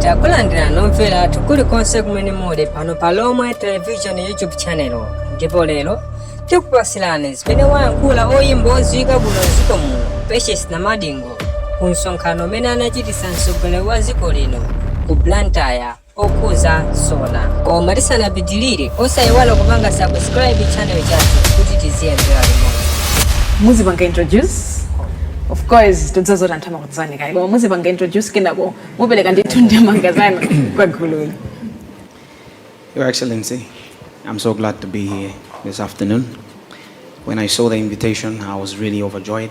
takulandira omvera athu kulikonse kumene muli pano pa lomwe television youtube channel ndipo lero tikupatsirani zimene wayankhula oyimba odziwika bwino mdziko muno patience namadingo ku msonkhano umene anachititsa mtsogoleri wa dziko lino ku blantyre okhudza sona koma tisanapitilire osayiwala kupanga subscribe channel chathu kuti tiziyendera limodzi muzipanga introduce of course tidziwa zoti anthu amakudziwani kale koma muzipanga introduce kenako mupereka ndithu ndemanga zanu kwa gululi Your Excellency, I'm so glad to be here this afternoon. When I saw the invitation, I was really overjoyed.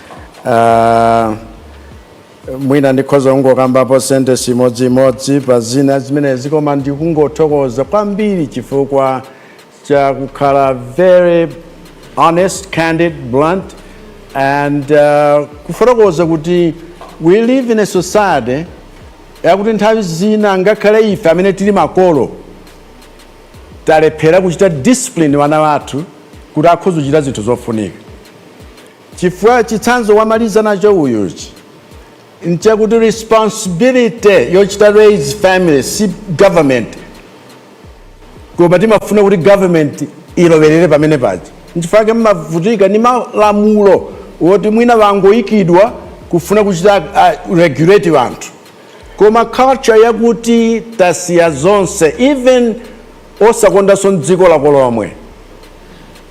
Ah, mwina ndikhoza kungokambapo sentence imodziimodzi pa zina zimenezi koma ndikungothokoza kwambiri chifukwa cha kukhala very honest candid blunt and uh, kufotokoza kuti we live in a society yakuti nthawi zina ngakhale ife amene tili makolo talephera kuchita discipline wana wathu kuti akhoza kuchita zinthu zofunika Chifukwa chitsanzo wamaliza nacho uyuchi nchakuti responsibility yochita raise family si government koma timafuna kuti government ilowerere pamene paja nchifukwa chake mmavutika ndi malamulo woti mwina wangoikidwa kufuna kuchita uh, regulate wanthu koma culture yakuti tasiya zonse even osakondanso dziko lako lomwe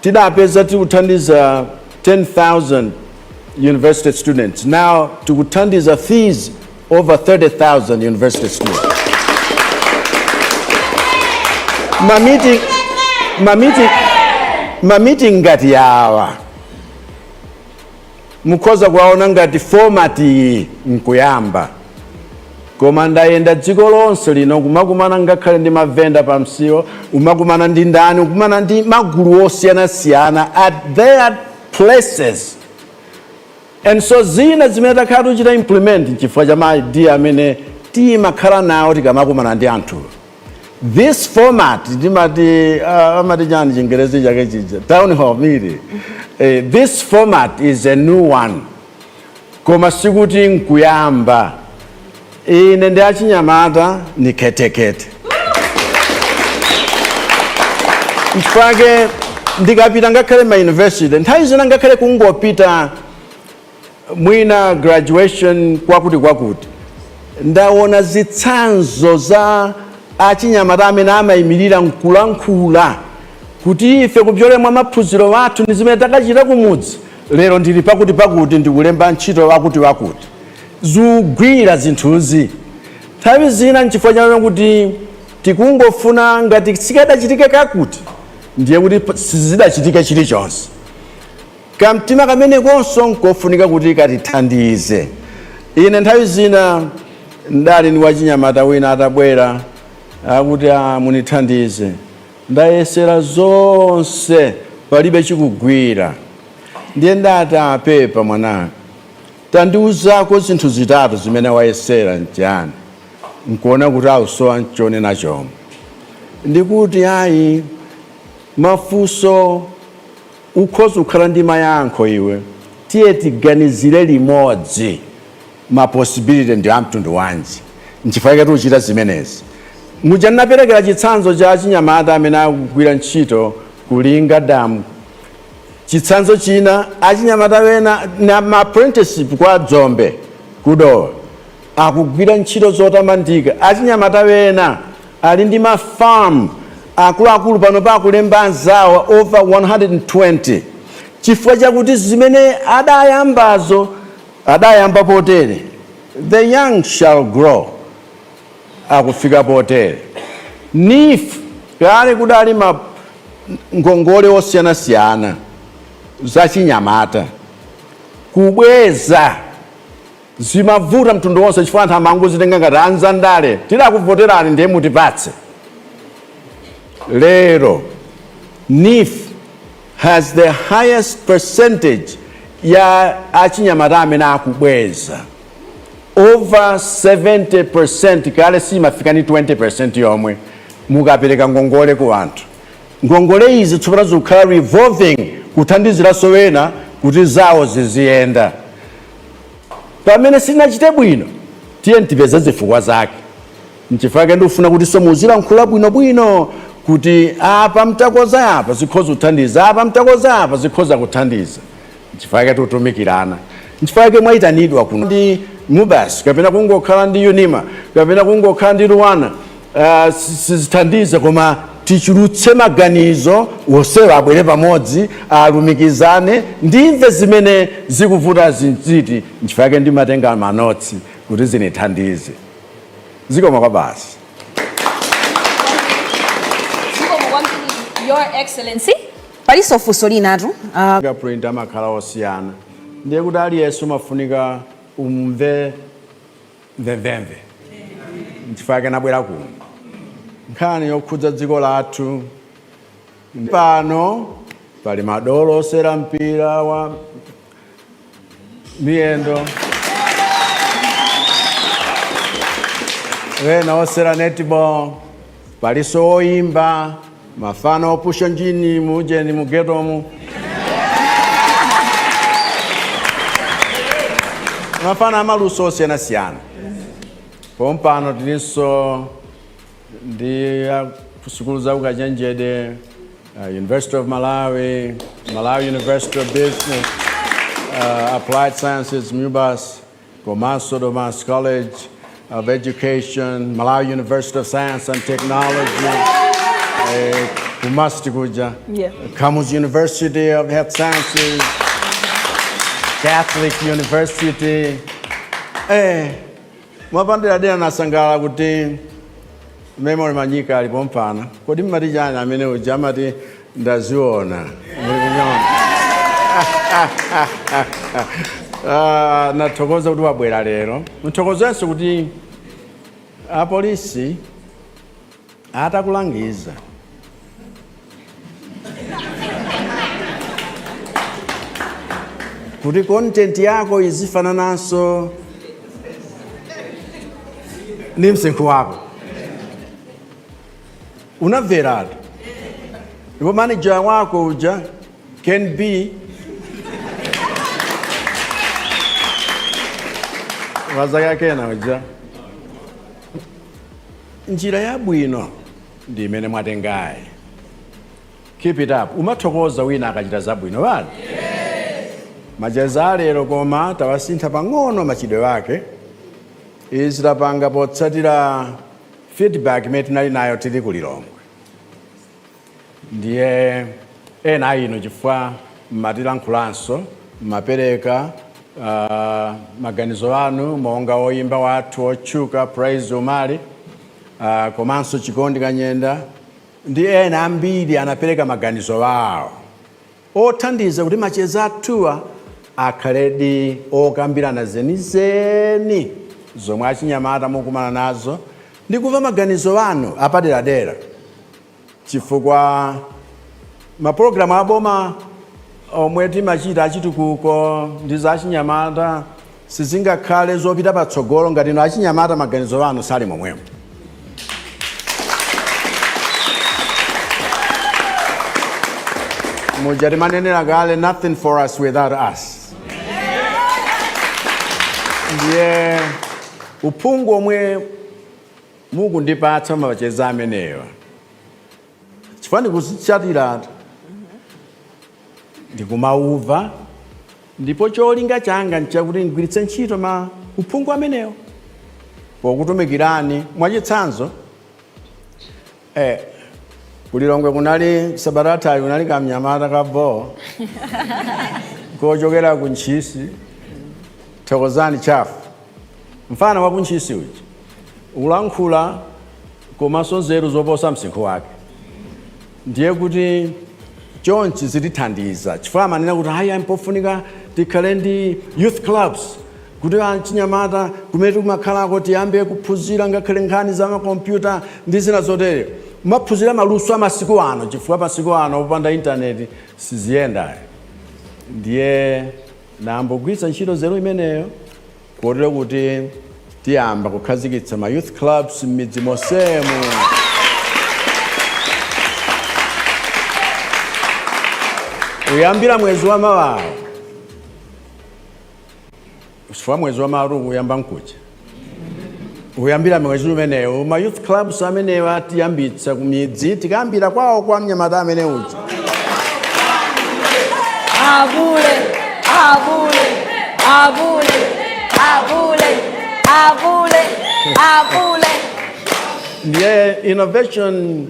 Tidapeza tikuthandiza 10,000 university students, now tikuthandiza fees over 30,000 university students. Ma meeting, ma meeting, ma meeting ngati awa mukhoza kuwaona ngati format iyi nkuyamba koma ndayenda dziko lonse lino kumakumana ngakhale ndi mavenda pa msewu umakumana ndi ndani ukumana ndi magulu osiyanasiyana at their places and so zina zimene takhala tikuchita implement nchifukwa cha maidea amene timakhala nawo tikamakumana ndi anthuwo this format ndimati uh, amati chani chingerezi chake chija town hall meeting eh, this format is a new one koma sikuti nkuyamba ine ndi achinyamata ni khetekhete mfake ndikapita ngakhale ma university nthawi zina ngakhale kungopita mwina graduation kwakuti kwakuti ndaona zitsanzo za achinyamata amene amayimirira nkulankhula kuti ife kupyolera mwa maphunziro athu ndi zimene takachita kumudzi lero ndili pakuti pakuti ndikulemba ntchito wakuti wakuti zikugwira zinthuzi nthawi zina nchifukwa chake kuti tikungofuna ngati sikadachitike kakuti ndiye kuti sizidachitike chilichonse Kamtima kamenekonso n'kofunika kuti katithandize. Ine nthawi zina n'dali ndi wachinyamata wina atabwera akuti, Aa, munithandize. Ndayesera zonse palibe chikugwira. Ndiye n'dati, Aa pepa mwananga. Tandiuzako zinthu zitatu zimene wayesera n'chiyani. N'kuona kuti akusowa n'chonena chomwe. Ndikuti, Ayi, mafunso. Ukhoza kukhala ndi mayankho iwe. Tiye tiganizire limodzi ma possibility ndi a mtundu wanji, nchifukwa chake tikuchita zimenezi. Muja ndinaperekera chitsanzo cha achinyamata amene akugwira ntchito ku Linga Dam, chitsanzo china achinyamata wena na ma apprenticeship kwa Dzombe ku Dowa. Akugwira ntchito zotamandika. Achinyamata wena ali ndi ma farm akuluakulu panopa akulemba anzawo over 120 chifukwa chakuti zimene adayambazo adayamba potere. The young shall grow akufika potere. NEEF kale kudali ma ngongole osiyanasiyana zachinyamata kubweza. Zimavuta mtundu wonse chifukwa anthu amangozitenga ngati anzandale tidakuvoterani ndiye mutipatse. Lero NEEF has the highest percentage ya achinyamata amene akubweza over 70% kale simafika ni 20% yomwe mukapereka ngongole ku anthu. Ngongole izi tsopano zikukhala revolving kuthandiziranso wena kuti zawo ziziyenda. Pamene sinachite bwino, tiye tipeze zifukwa zake. Nchifukwa chake ndikufuna kuti tsono muzilankhula bwinobwino kuti apa mtakonza apa zikhoza kuthandiza, apa mtakonza apa zikhoza kuthandiza. Nchifukwa chake tikutumikirana. Nchifukwa chake mwaitanidwa kuno ndi MUBAS kapena kungokhala ndi UNIMA kapena kungokhala ndi LUANAR. Ah, si- sizithandiza koma tichulutse maganizo wonsewo abwere pamodzi alumikizane ndimve zimene zikuvutazi n'ziti nchifukwa chake ndimatenga manotsi kuti zinithandize zikomo kwabasi Zikomo kwambiri, Your Excellency. Palinso funso linatu. Fingerprint amakhala osiyana ndiye kuti aliyense umafunika umve mvemvemve nchifukwa chake nabwera kuno nkhani yokhudza dziko lathu pano pali madolo osewera mpira wa miyendo wena osewera netball Palinso oyimba mafana opusha njini mujeni mugetomu mafana amaluso osiyanasiyana pompano tilinso ndi akusukulu za ukachenjede uh, university of malawi malawi university of business uh, applied sciences mubas komanso Domasi College of Education, Malawi University of Science and Technology, eh, kumasti kuja, Yeah. Kamuzu University of Health Sciences, Catholic University. Eh, mwapandira dera nasangala kuti memory manyika ali pompano kodi mmati chani amene uja amati ndaziona Ah, ndathokoza kuti wabwera lero ndithokozenso kuti apolisi atakulangiza kuti content yako izifanananso ndi msinkhu wako Unamveratu ndipo manager wako uja Ken B wazaka kena uja njira yabwino ndi imene mwatengayi keep it up umathokoza wina akachita zabwino basi macheza alero koma tawasintha pang'ono machitidwe ake izi tapanga potsatira Feedback imene tinali nayo tili ku Lilongwe ndiye ena a inu chifukwa mmatilankhulanso mmapereka uh, maganizo anu monga woyimba wathu wotchuka Praise Umali uh, komanso Chikondi Kanyenda ndi ena ambiri anapereka maganizo awo othandiza kuti macheza athuwa akhaledi okambirana zenizeni zomwe achinyamata mukukumana nazo ndi kumva maganizo anu apaderadera chifukwa mapologalamu aboma omwe timachita achitukuko ndi za achinyamata, Sizingakhale zopita patsogolo ngati inu achinyamata maganizo anu sali momwemo. Muja timanenera kale nothing for us without us. Ndiye uphungu omwe mukundipatsa mumacheza amenewa chifukwa ndikuzitsatira ndikumauva ndipo cholinga changa nchakuti ndigwiritse ntchito uphungu amenewo pokutumikirani mwachitsanzo eh, kulilongwe kunali sabata yathayo kunali kamnyamata ka boo kochokera ku ntchisi thokozani chafu Mfana wa ku Ntchisi uja. Ukulankhula komanso nzeru zoposa msinkhu wake. Ndiye kuti chonchi zitithandiza chifukwa amanena kuti ayi ayi mpofunika tikhale ndi youth clubs kuti achinyamata kumene tikumakhalako tiyambe kuphunzira ngakhale nkhani za makompyuta ndi zina zotere. Kumaphunzira maluso a masiku ano chifukwa masiku ano opanda intaneti siziyenda. Ndiye. Nayamba kugwiritsa ntchito nzeru imeneyo kotero kuti tiyamba kukhazikitsa ma youth clubs m'midzi monsemu. Kuyambira mwezi wa mawawu, chifukwa mwezi wa mawawu ukuyamba nkuja, kuyambira mwezi umenewo ma youth clubs amenewa tiyambitsa kumidzi tikayambira kwawo kwa mnyamata amene uja Abule, abule, abule, abule, abule, abule. ndiye innovation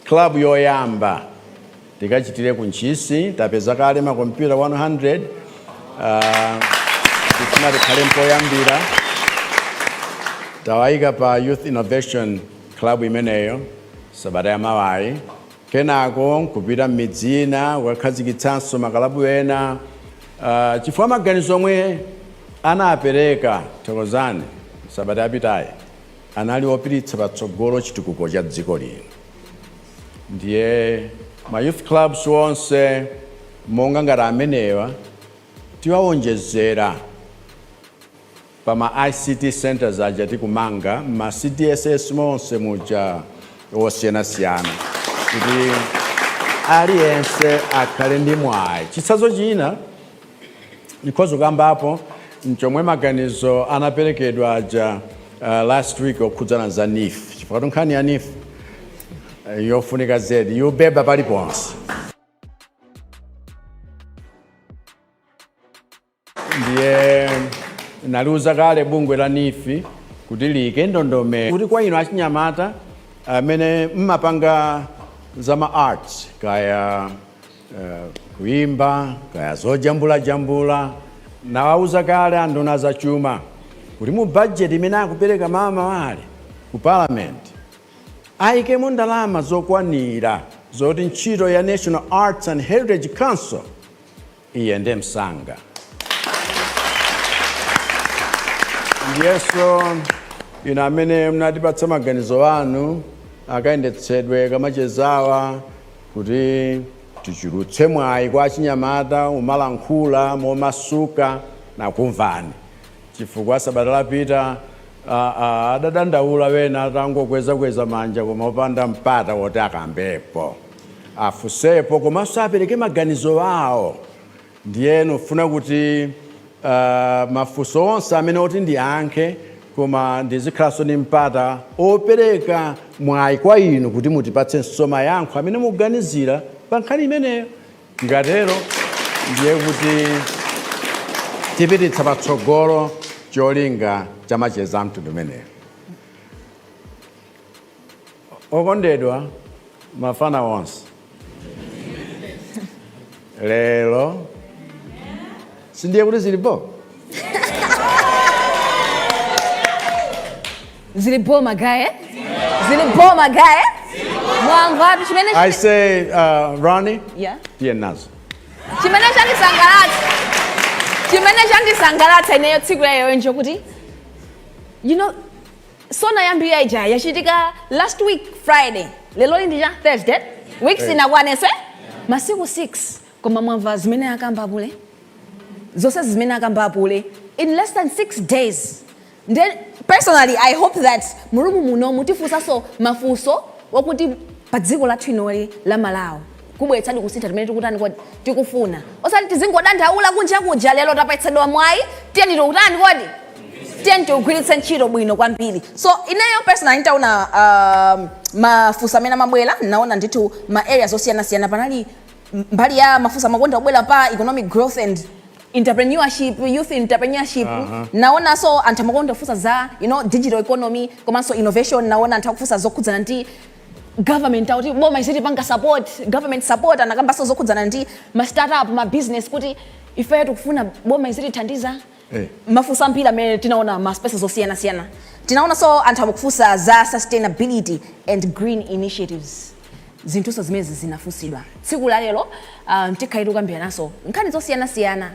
club yoyamba tikachitire ku Ntchisi. Tapeza kale makompyuta 100 tifuna tikhale mpoyambira. Tiwayika pa Youth Innovation Club imeneyo sabata ya mawayi. Kenako kupita m'midzi ina kukakhazikitsanso makalabu ena chifukwa maganizo omwe anapereka Thokozani sabata yapitayi anali opititsa patsogolo chitukuko cha dziko lino. ndiye ma youth clubs onse monga ngati amenewa tiwawonjezera pa ma ICT centers aja tikumanga m'ma CDSS monse muja osiyanasiyana kuti aliyense akhale ndi mwayi chitsanzo china Ndikhoza kukambapo nchomwe maganizo anaperekedwa aja uh, last week okhudzana za NEEF chifukwatu nkhani ya NEEF eh, yofunika zedi yobeba paliponse ndiye naliuza kale bungwe la NEEF kuti liyike ndondomeko kuti kwa inu achinyamata amene mmapanga za ma arts kaya kuimba kaya zojambulajambula nawauza kale anduna za chuma kuti mu bajeti imene akupereka mmawa Lachisanu ku parliament ayikemo ndalama zokwanira zoti ntchito ya national arts and heritage council iyende msanga ndiyeso inu amene munatipatsa maganizo anu akayendetsedwe kamachezawa Kuti tichulukitse mwayi kwa achinyamata kumalankhula momasuka nakumvani chifukwa sabata lapita a, a, adadandaula wena atangokwezakweza manja koma opanda mpata woti akambepo afunsepo komanso apereke maganizo awo Ndiye nkufuna kuti uh, mafunso onse amene oti ndiyankhe koma ndizikhalanso ndi mpata opereka mwayi kwa inu kuti mutipatsenso mayankho amene mukuganizira pa nkhani imeneyo tikatero ndiye kuti tipititsa patsogolo cholinga cha macheza amtundu umenewo Okondedwa mafana onse, lero sindiye kuti zili bho zili bho magaye zili bho magaye mwamvatu chimene I say uh, Ronnie Yeah. tiye nazo chimene chandisangalatsa chimene chandisangalatsa ineyo tsiku laleroli ndiye kuti you know SONA yambiri ija yachitika last week Friday, leloli ndi cha Thursday, week sinakwanenso? Masiku 6 koma mwamva zimene akamba apule? Zonsezi zimene akamba apule in less than 6 days nde personally I hope that murumu muno mutifunsanso mafunso wakuti padziko lathu inoli la Malawi. kubweretsadi kusintha chimene tikutani kodi tikufuna osati tizingodandaula kunja kuja lero tapatsidwa mwayi tiyeni tikutani kodi tiyeni tiugwiritse ntchito bwino kwambiri so ineyo personally nditaona um, mafunso amene amabwera naona ndithu ma areas osiyanasiyana panali m- mbali ya mafunso amakonda kubwera pa economic growth and entrepreneurship youth entrepreneurship Aha. naonanso anthu amakonda kufunsa za you know, digital economy komanso innovation naona anthu akufunsa zokhudzana ndi government akuti boma izitipanga support government support anakambanso zokhudzana ndi ma startup ma business kuti ifeyo tikufuna boma izitithandiza Eh. mafunso ambiri amene tinaona ma spaces osiyanasiyana tinaonanso anthu akufunsa za sustainability and green initiatives zinthunso zimenezi zinafunsidwa tsiku la lero uh, tikhala tikukambirananso nkhani zosiyanasiyana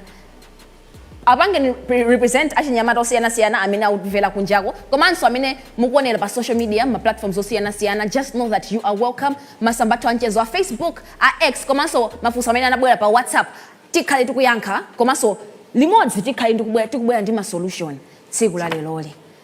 Apangeni represent achinyamata osiyanasiyana amene akutimvera kunjako komanso amene mukuonera pa social media mma platforms osiyanasiyana just know that you are welcome masamba athu amchezo a facebook, a X komanso mafunso amene anabwera pa whatsapp tikhale tikuyankha komanso limodzi tikhale tikubwera ndi ma solution tsiku la leroli.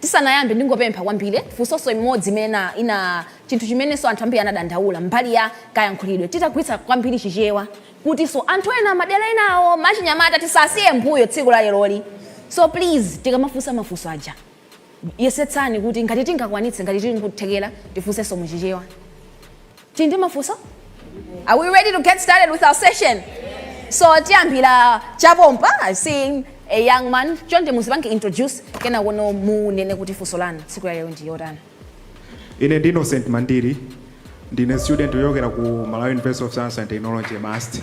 Tisanayambe ndingopempha kwambiri funsonso imodzi imene ina chinthu chimenenso anthu ambiri anadandaula mbali ya kayankhulidwe titagwiritsa kwambiri chichewa kutinso anthu ena madera enawo achinyamata tisawasiye mbuyo tsiku la leloli so please tikamafunsa mafunso aja yesetsani kuti ngati tingakwanitse ngati tili nkuthekera tifunsenso mu chichewa. Tili ndi mafunso? Are we ready to get started with our session? So tiyambira chapompa, I see a young man. Chonde muzipange introduce kenako no munene kuti funso lanu tsiku la lero ndi yotani. Ine ndi Innocent Mandiri, ndine student wochokera ku Malawi University of Science and Technology MUST.